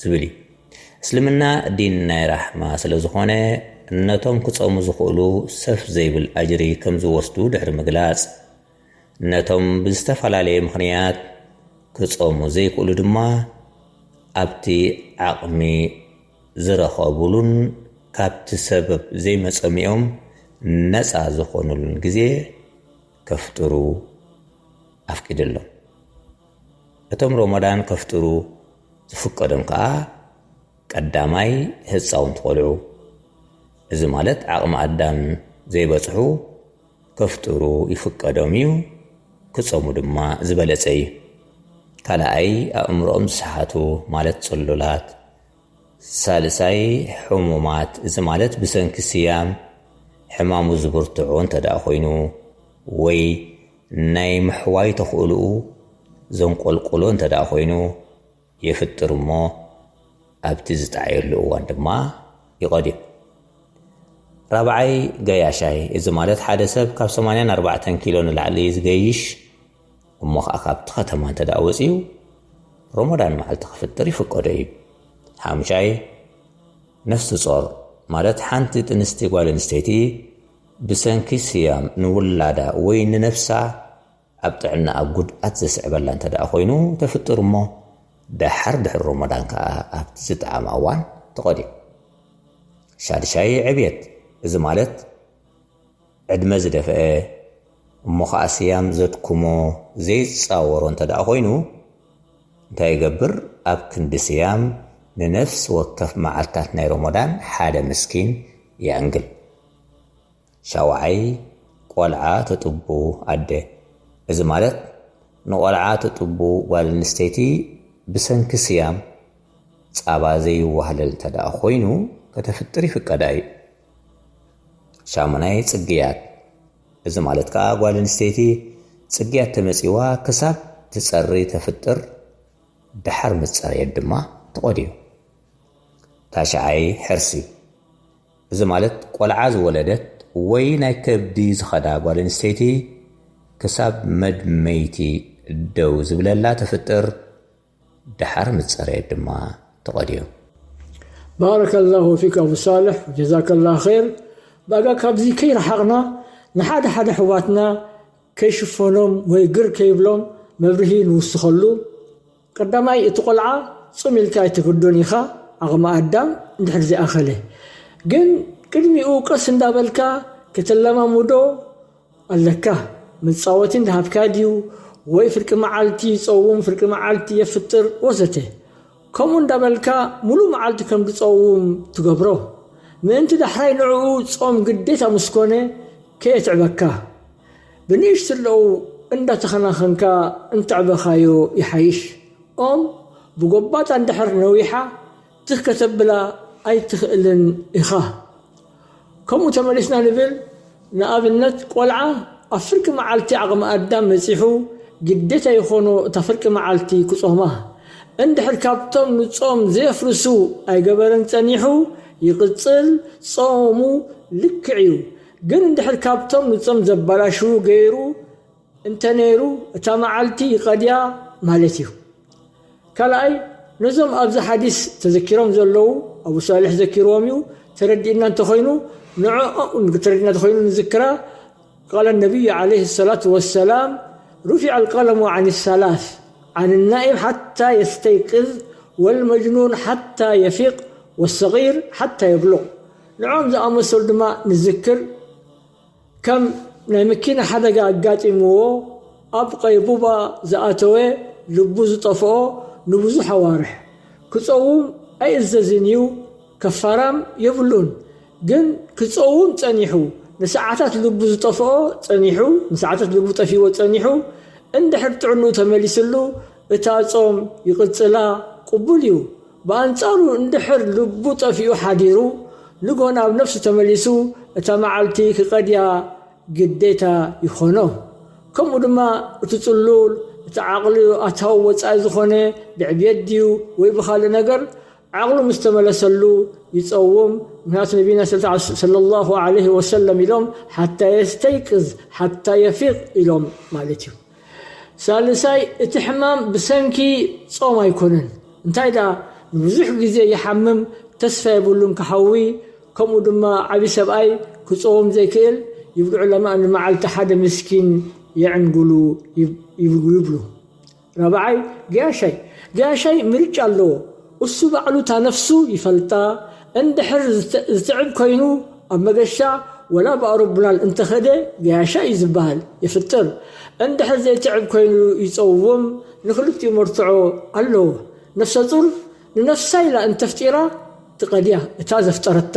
ዝብል እዩ። እስልምና ዲን ናይ ራሕማ ስለ ዝኾነ ነቶም ክጸሙ ዝኽእሉ ሰፍ ዘይብል ኣጅሪ ከም ዝወስዱ ድሕሪ ምግላጽ፣ ነቶም ብዝተፈላለየ ምኽንያት ክጸሙ ዘይክእሉ ድማ ኣብቲ ዓቕሚ ዝረኸቡሉን ካብቲ ሰበብ ዘይመጸሚኦም ነጻ ዝኾኑሉን ግዜ ከፍጥሩ ኣፍቂድሎም። እቶም ሮሞዳን ከፍጥሩ ዝፍቀዶም ከኣ ቀዳማይ ህጻውንቲ ቆልዑ እዚ ማለት ዓቕሚ ኣዳም ዘይበጽሑ ከፍጥሩ ይፍቀዶም እዩ ክጸሙ ድማ ዝበለጸ እዩ። ካልኣይ ኣእምሮኦም ዝሰሓቱ ማለት ጽሉላት፣ ሳልሳይ፣ ሕሙማት፣ እዚ ማለት ብሰንኪ ስያም ሕማሙ ዝብርትዑ እንተድኣ ኮይኑ ወይ ናይ ምሕዋይ ተኽእሎኡ ዘንቆልቁሉ እንተድኣ ኮይኑ የፍጥር እሞ ኣብቲ ዝጠዓየሉ እዋን ድማ ይቐድዮ። ራብዓይ፣ ገያሻይ፣ እዚ ማለት ሓደ ሰብ ካብ ሰማንያን ኣርባዕተን ኪሎ ንላዕሊ ዝገይሽ፣ እሞ ኸኣ ካብቲ ኸተማ እንተ ደኣ ወጺኡ፣ ሮሞዳን መዓልቲ ክፍጥር ይፍቀዶ እዩ። ሓሙሻይ፣ ነፍሲ ጾር ማለት ሓንቲ ጥንስቲ ጓል ኣንስተይቲ ብሰንኪ ስያም ንውላዳ ወይ ንነፍሳ ኣብ ጥዕናኣ ጉድኣት ዘስዕበላ እንተ ደኣ ኮይኑ ተፍጥር እሞ ደሓር ድሕሪ ሮሞዳን ከኣ ኣብቲ ዝጠዓማ እዋን ትቐድዮ። ሻድሻይ፣ ዕብየት እዚ ማለት ዕድመ ዝደፈኤ እሞ ከኣ ስያም ዘድኩሞ ዘይጻወሮ እንተ ደኣ ኮይኑ እንታይ ይገብር ኣብ ክንዲ ስያም ንነፍሲ ወከፍ መዓልታት ናይ ሮሞዳን ሓደ ምስኪን የዕንግል ሻውዓይ ቆልዓ ትጥቡ ኣደ እዚ ማለት ንቆልዓ ትጥቡ ጓል ኣንስተይቲ ብሰንኪ ስያም ጻባ ዘይዋህለል እንተ ደኣ ኮይኑ ከተፍጥር ይፍቀዳ እዩ። ሻሙናይ ጽግያት እዚ ማለት ከኣ ጓል ኣንስተይቲ ጽግያት ተመጺዋ ክሳብ ትጸሪ ተፍጥር ድሓር ምስ ጸረየት ድማ ትቖድዮ። ታሽዓይ ሕርሲ እዚ ማለት ቆልዓ ዝወለደት ወይ ናይ ከብዲ ዝኸዳ ጓል ኣንስተይቲ ክሳብ መድመይቲ ደው ዝብለላ ተፍጥር ደሓር ምስ ጸረየት ድማ ተቐድዮም። ባረከላሁ ፊክ ኣቡ ሳልሕ ጀዛከላ ኼር ባጋ ካብዚ ከይረሓቅና ንሓደ ሓደ ኣሕዋትና ከይሽፈኖም ወይ ግር ከይብሎም መብርሂ ንውስኸሉ ቀዳማይ እቲ ቆልዓ ጽም ኢልካ ኣይትግዶን ኢኻ ዓቅሚ ኣዳም እንድሕር ዘይኣኸለ ግን ቅድሚኡ ቀስ እንዳበልካ ከተለማምዶ ኣለካ መጻወቲ እንዳሃብካ ድዩ ወይ ፍርቂ መዓልቲ ይጸውም ፍርቂ መዓልቲ የፍጥር ወዘተ ከምኡ እንዳበልካ ሙሉእ መዓልቲ ከም ድጸውም ትገብሮ ምእንቲ ዳሕራይ ንዕኡ ጾም ግዴታ ምስ ኮነ ከየትዕበካ ብንእሽትለኡ እንዳተከናከንካ እንተዕበካዮ ይሓይሽ ኦም ብጎባጣ እንድሕር ነዊሓ ትኽ ከተብላ ኣይትክእልን ኢካ ከምኡ ተመሊስና ንብል ንኣብነት ቆልዓ ኣብ ፍርቂ መዓልቲ ዓቕሚ ኣዳም በጺሑ ግዴታ ይኾኖ እታ ፍርቂ መዓልቲ ክጾማ እንድሕር ካብቶም ንጾም ዘየፍርሱ ኣይገበረን ጸኒሑ ይቕጽል ጾሙ ልክዕ እዩ ግን እንድሕር ካብቶም ንጾም ዘባላሽዉ ገይሩ እንተ ነይሩ እታ መዓልቲ ይቀድያ ማለት እዩ። ካልኣይ ነዞም ኣብዚ ሓዲስ ተዘኪሮም ዘለዉ ኣቡ ሷልሕ ዘኪርዎም እዩ ተረዲእና እንተ ኮይኑ ንዕኦኡም ተረዲእና ተኮይኑ ንዝክራ ቃለ ነብዩ ዓለይሂ ሰላቱ ወሰላም ሩፊዐ ልቀለሙ ዓኒ ሰላስ ዓኒ ናኢም ሓታ የስተይቅዝ ወልመጅኑን ሓታ የፊቅ ወሰጊር ሓታ የብሉቅ ንዕኦም ዝኣመሰሉ ድማ ንዝክር ከም ናይ መኪና ሓደጋ ኣጋጢምዎ ኣብ ቐይቡባ ዝኣተወ ልቡ ዝጠፍኦ ንብዙሕ ኣዋርሕ ክጸውም ኣይእዘዝን እዩ ከፋራም የብሉን ግን ክጸውም ጸኒሑ ንሰዓታት ልቡ ዝጠፍኦ ጸኒሑ ንሰዓታት ልቡ ጠፊእዎ ጸኒሑ እንድሕር ጥዕንኡ ተመሊስሉ እታ ጾም ይቕጽላ ቕቡል እዩ ብኣንጻሩ እንድሕር ልቡ ጠፊኡ ሓዲሩ ንግሆ ናብ ነፍሱ ተመሊሱ እታ መዓልቲ ክቀድያ ግዴታ ይኾኖ። ከምኡ ድማ እቲ ጽሉል እቲ ዓቕሉ ኣታዊ ወጻኢ ዝኾነ ብዕብየት ድዩ ወይ ብኻልእ ነገር ዓቕሉ ምስ ተመለሰሉ ይጸውም ምኽንያቱ ነብይና ሰለላሁ ዓለይሂ ወሰለም ኢሎም ሓታ የስተይቅዝ ሓታ የፊቅ ኢሎም ማለት እዩ። ሳልሳይ፣ እቲ ሕማም ብሰንኪ ጾም ኣይኮነን፣ እንታይ ደኣ ንብዙሕ ግዜ ይሓምም፣ ተስፋ የብሉን ክሓዊ፣ ከምኡ ድማ ዓቢ ሰብኣይ ክጾም ዘይክእል፣ ይብልዑ ለማ ንመዓልቲ ሓደ ምስኪን የዕንግሉ ይብሉ። ራብዓይ፣ ገያሻይ ገያሻይ ምርጫ ኣለዎ፣ እሱ ባዕሉ እታ ነፍሱ ይፈልጣ እንድሕር ዝትዕብ ኮይኑ ኣብ መገሻ ወላ ብኣሮብላን እንተኸደ ገያሻ እዩ ዝባሃል የፍጥር እንድሕር ዘይትዕብ ኮይኑ ይፀውም ንክልቲኡ መርትዖ ኣለዎ ነፍሰፁር ንነፍሳ ኢላ እንተፍጢራ ትቀድያ እታ ዘፍጠረታ